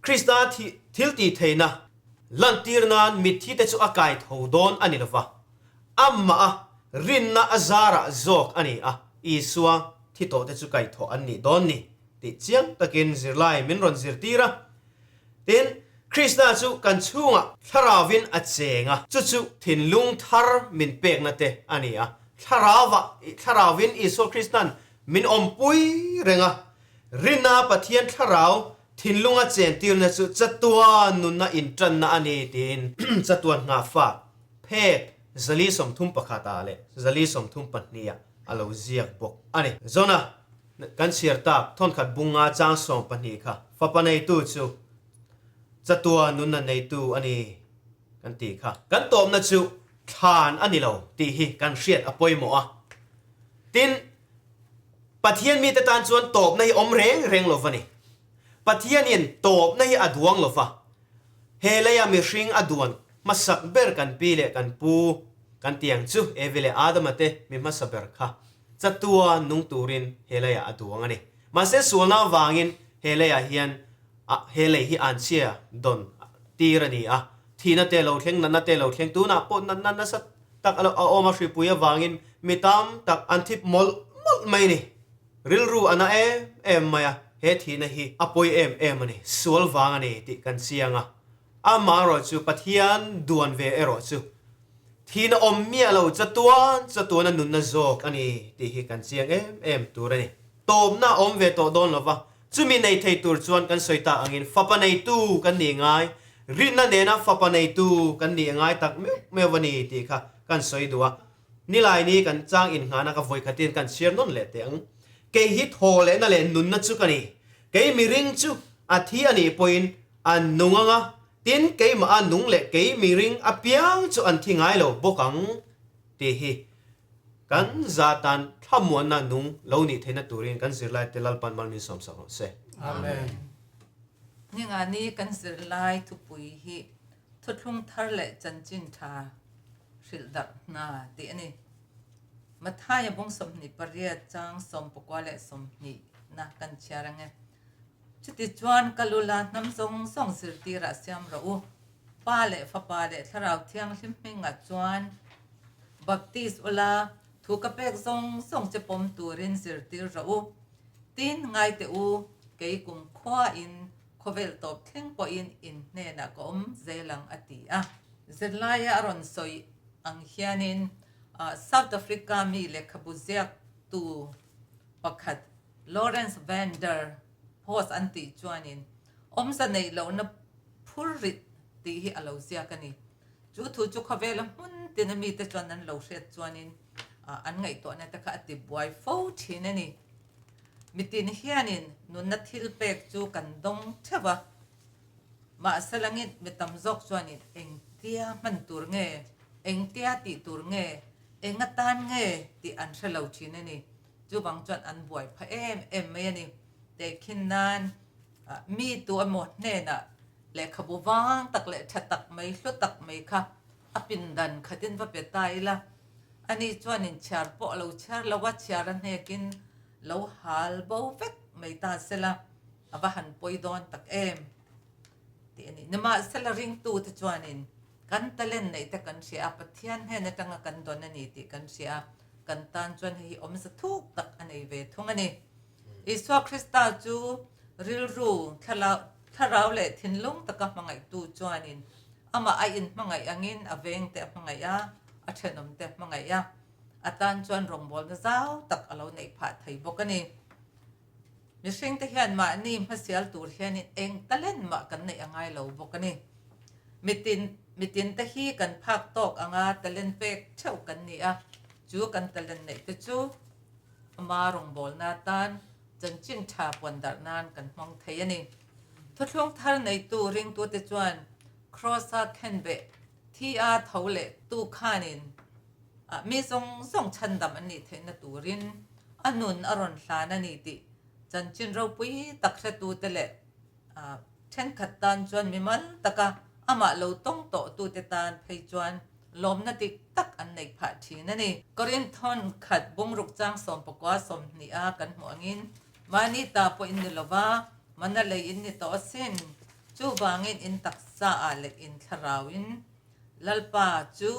Krista thiltihtheihna lantir nan mitthi te chu a kai tho dawn a ni lo va. Amah a rinna a zarah zawk a ni a, Isua thi tawhte chu kaihthawh an nih dawn ni tih chiang takin zirlai min rawn zirtir a. Tin, Krista chu kan chhungah Thlarauvin a cheng a, chu chu thinlung thar min pekna te a ni a. Thlarauva, Thlarauvin Isua Krista'n min awmpui reng a. Rinna Pathian Thlarau thinlunga chentirna chu chatua nuna inṭanna a ni tiin chatuan nghah fak phek zali sawmthum pakhat ah leh zali sawmthum pahnih ah a lo ziak bawk a ni. Zona kan chhiar tak thawnkhat bung a chang sawm pahnih kha fapa neitu chu chatua nunna neitu a ni kan tih kha kan tawpna chu thlan a ni lo tih hi kan hriat a pawimawh a. Tin, Pathian mite tan chuan tawpna hi awm reng reng lo va ni. Pathianin tawpna hi a duang lo va. He leia mihring a duan hmasak ber kan pi leh kan pu kan ti ang chu Evi leh Adama te mi hmasa ber kha chatua nung turin he leia a duang a ni. Mahse sualna avangin he leia hian a he lei hi an chhia dawn tir a ni a. Thihna te lo thleng, natna te lo thleng, tunah pawh natna nasa tak a awm a, hripui avangin mi tam tak an thip mawlh mawlh mai a ni. Rilru a na em em mai a, he thihna hi a pawi em em a ni, sual vang a ni tih kan chiang a. Amaherawh chu Pathian duan ve erawh chu thihna awm miah lo chatuan chatuana nunna zawk a ni tih hi kan chiang em em tur a ni. Tawpna a awm ve tawh dawn lo va, chumi nei thei tur chuan kan sawi ta angin fapa neitu kan nih ngai, rinna nena fapa neitu kan nih a ngai tak meuh meuh a ni tih kha kan sawi duh a. Nilai ni kan chang in nghana ka vawi khatin kan chhiar nawn leh teh ang. Kei hi thaw lehna leh nunna chu ka ni. Kei mi ring chu a thi a nih pawhin a nung ang a, tin keimah a nung leh kei mi ring apiang chu an thi ngai lo bawk ang tih hi kan za tan thlamuanna nung lo nih theihna turin kan zirlaite Lalpa'n malmin sawmsak rawh se. Amen. Ningani kan zirlai thupui hi. Thuthlung thar leh chanchin tha hrilh darh hna tih a ni. Mathaia bung sawmhnih pariat chang sawm pakua leh sawmhnih na kan chhiar ang e. Chuti chuan ka lula hnam zawng zawng zirtirah siam rawh u. Pa leh fapa leh Thlarau Thianghlim hmingah chuan baptist ula thu ka pek zawng zawng che pawm turin zirtir rawh u. Tin ngaiteh u, kei kum khuain khawvel tawp thleng pawhin in hnenah ka awm zel ang, a ti a. Zirlaia a rawn sawi ang hianin South Africa mi lehkhabu ziaktu pakhat Lawrence Van Der Post an tih chuanin awmze neih lohna phur rih tih hi a lo ziak a ni. Chu thu chu khawvela hmun tina mite chuan an lo hriat chuanin an ngaihtuahna te kha a tibuai fo thin a ni. Mitin hianin nunna thil pek chu kan dawng theuh a, mahse langin mi tam zawk chuanin engtia hman tur nge, engtia tih tur nge, eng atan nge tih an hre lo thin a ni. Chuvang chuan an buai pha em em mai a ni. Tei khin nan mi tu emaw hnenah lehkhabu vang tak leh tha tak mai, hlu tak mai kha, A pindan khatin va pe ta ila, ani chuanin chhiar pawh a lo chhiar lo a, chhiar a hnekin lo hal bo vek mai ta sela a va han pawi dawn tak em tih a ni. Nimahsela ringtute chuanin kan talent neih te kan hria a, Pathian hnen atanga kan dawn a ni tih kan hria a, kan tan chuan hei hi awmze thuk tak a nei ve thung a ni. Isua Krista chu rilru, thlarau leh thinlung taka hmangaihtu chuanin amah a inhmangaih angin a vengte a hmangaih a, a thenawmte a hmangaih a, a tan chuan rawngbawlna zau tak a lo neih phah thei bawk a ni. Mihringte hian mahni hmasial tur hianin eng talenmah kan neih a ngai lo bawk a ni. Mitin, mitinte hi kan phak tawk anga talent pek theuh kan ni a, chu kan talent neihte chu Ama rawngbawlna atan chanchin tha puan darh nan kan hmang thei a ni. Thuthlung thar neitu ringtute chuan Kraws a thlen beh thi a tho leh tu khanin ah mi zawng zawng chhan dam an nih theihna turin a nun a rawn hlan a ni tih chanchin ropui tak hretute leh A thenkhat tan chuan mimal taka amah lo tawng tawh tute tan phei chuan lawmna dik tak an neih phah thin a ni. Corinne thawnkhat bungruk chang sawm pakua sawmhnih a kan hmuh angin mahni ta pawhin ni lova manna leiin ni tawh asin. Chuvangin in taksa ah leh in thlarauin Lalpa chu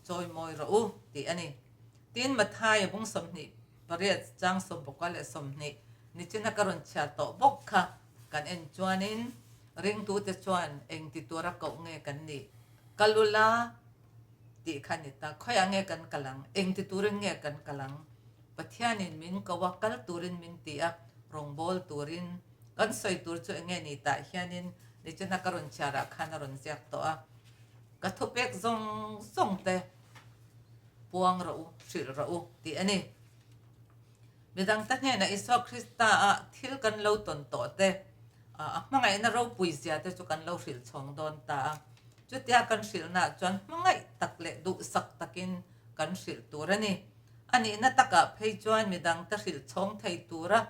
chawimawi rawh u tih a ni. Tin, Mathaia bung sawmhnih pariat chang sawmpakua leh sawmhnih nichina ka rawn chhiar tawh bawk kha kan en chuanin ringtute chuan engti tur a koh nge kan nih kal ula tih kha ni ta, khawiah nge kan kal ang, engti turin nge kan kal ang, Pathianin min ko a, kal turin min ti a, rawngbâwl turin, kan sawi tur chu enge ni tah hianin nichina ka rawn chhiarah khan a rawn ziak tawh a, ka thupek zawng zawngte. puang rawh u, hrilh rawh u tih a ni. Midangte hnenah Isua Krista-a thil kan lo tawn tawhte, a hmangaihna ropui zia te chu kan lo hrilh chhawng dawn ta a. Chutia kan hrilhnaah chuan hmangaih tak leh duhsak takin kan hrilh tur a ni. A nihna takah phei chuan midangte hrilh chhawng thei tura,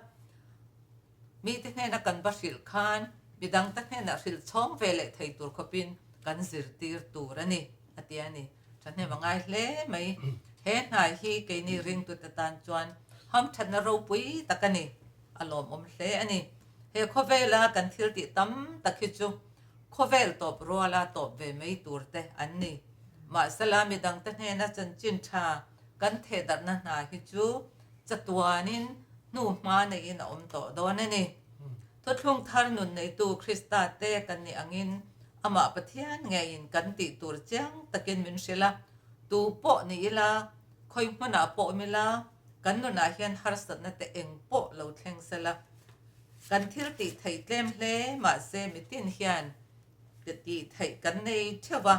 Mite hnena kan va hrilh khan midangte hnenah hrilh chhawng ve leh thei tur khawpin kan zirtir tur a ni, a ti a ni. Thahnem a ngai hle mai. He hnai hi keini ringtute tan chuan hamthatna ropui tak a ni, a lawmawm hle a ni. He khawvela kan thiltih tam tak hi chu khawvel tawp ruala tawp ve mai turte an ni. Mahsela midangte hnena chanchin tha. kan thehdarhna hna hi chu chatuanin hnu hma neiin a awm tawh dawn a ni. Thuthlung thar nun neitu Krista te kan nih angin Amah Pathian ngeiin kan tih tur chiang takin min hrilh a, tu pawh ni ila, khawi hmunah pawh awm ila, kan nunah hian harsatna te eng pawh lo thleng sela. Kan thil tih theih tlem hle, mahse mitin hian Ka tih theih kan nei theuh a,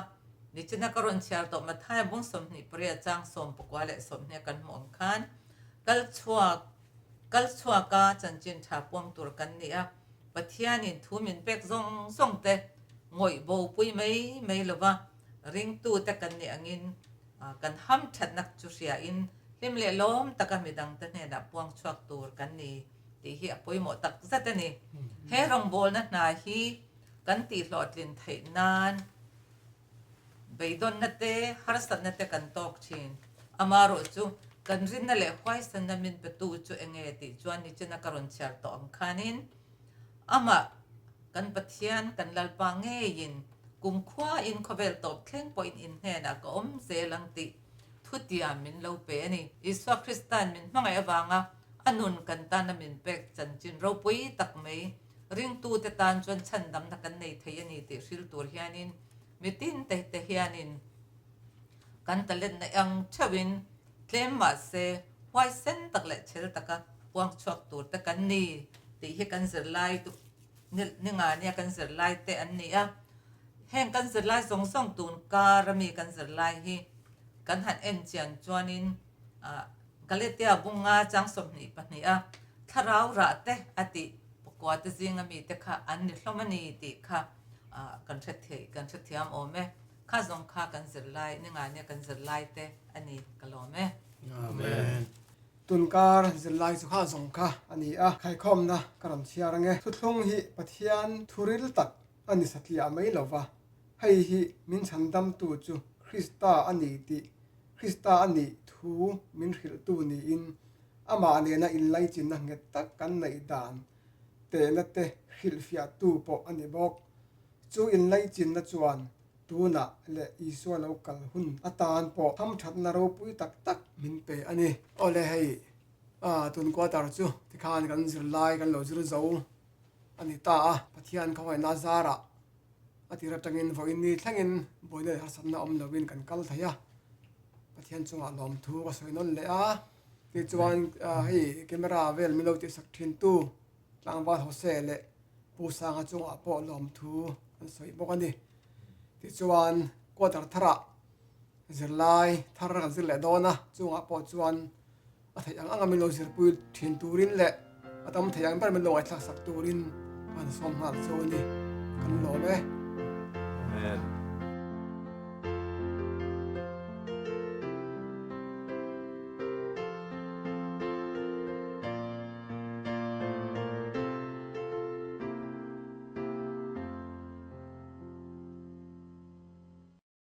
nichina ka rawn chhiar tawh Mathai bung sawmhnih pariat chang sawm pakua leh sawmhnia kan hmuh ang khan kal chhuak kal chhuak a chanchin tha puang tur kan ni a, Pathianin thu min pek zawng zawng te ngawih bopui mai mai lova ringtu te kan nih angin kan ham thatnak chu hria in hlim leh lawm taka midang te hnenah puang chhuak tur kan ni tih hi a pawimawh tak zat a ni. He rawngbawlna hna hi. Kan tih hlawhtlin theih nan beidawnna te, harsatna te kan tawk thin. Amah ruh chu, kan rinna leh huaisanna min petu chu eng nge tih chuan nichina ka rawn chhiar tawh ang khanin, amah kan Pathian, kan Lalpa ngeiin kumkhuain khawvel tawp thleng pawhin in hnenah ka awm zel ang tih thutia min lo pe a ni. Isua Krista'n min hmangaih avanga a nun kan tana min pek chanchin ropui tak mai. Ringtute tan chuan chhandamna kan nei thei a ni tih hril tur hianin mitin teh te hianin kan talent na eng theuhin tlem mahse huai sen tak leh chhel taka huang chhuak tur te kan ni tih hi kan zirlai duh ninga nia kan zirlai te an ni a, heng kan zirlai zawng zawng tun kar ami kan zirlai hi kan han enchian chuanin. ah Kaletia bunga chang sawmhnih pahnih a thlarau rah teh a tih pakua te zinga mite kha an ni hlawm a ni tih kha kan hretheih, kan hrethiam awm e. Kha zawng kha kan zir lai, Ningania kan zir lai te a ni ka lawm e. Amen. Tunkar zir lai chu kha zawng kha a ni a, khaikhawmna ka rawn chhiar ang e. Thuthlung hi Pathian thuril tak a ni satliah mai lo va, hei hi min chhandamtu chu Krista a ni tih Krista a nih thu min hrilhtu niin amah nena inlaichina nghet tak kan neih dan tehna te hrilhfiahtu pawh a ni bawk. Chu inlaichinna chuan tunah leh Isua lo kal hun atan pawh hamthatna ropui tak tak min pe a ni. Awle hei tun kuatar chu tikhan kan zirlai kan lo zir zo a ni ta a, Pathian khawhaina zarah A tir atangin vawiin ni thlengin buaina leh harsatna awm lovin kan kal thei a, Pathian chungah lawmthu ka sawi nawn leh a, tichuan hei camera vel min lo tihsak thintu Tlangval Jose leh Pu Sanga chungah pawh lawmthu an sawi bawk a ni. Tichuan quarter tharah zirlai thar kan zir leh dawn a, chungah pawh chuan-- a theih ang anga min lo zirpui thin turin leh a tam thei ang ber min lo ngaihtlak sak turin kan sawm nghal chu a ni kan lawm e amen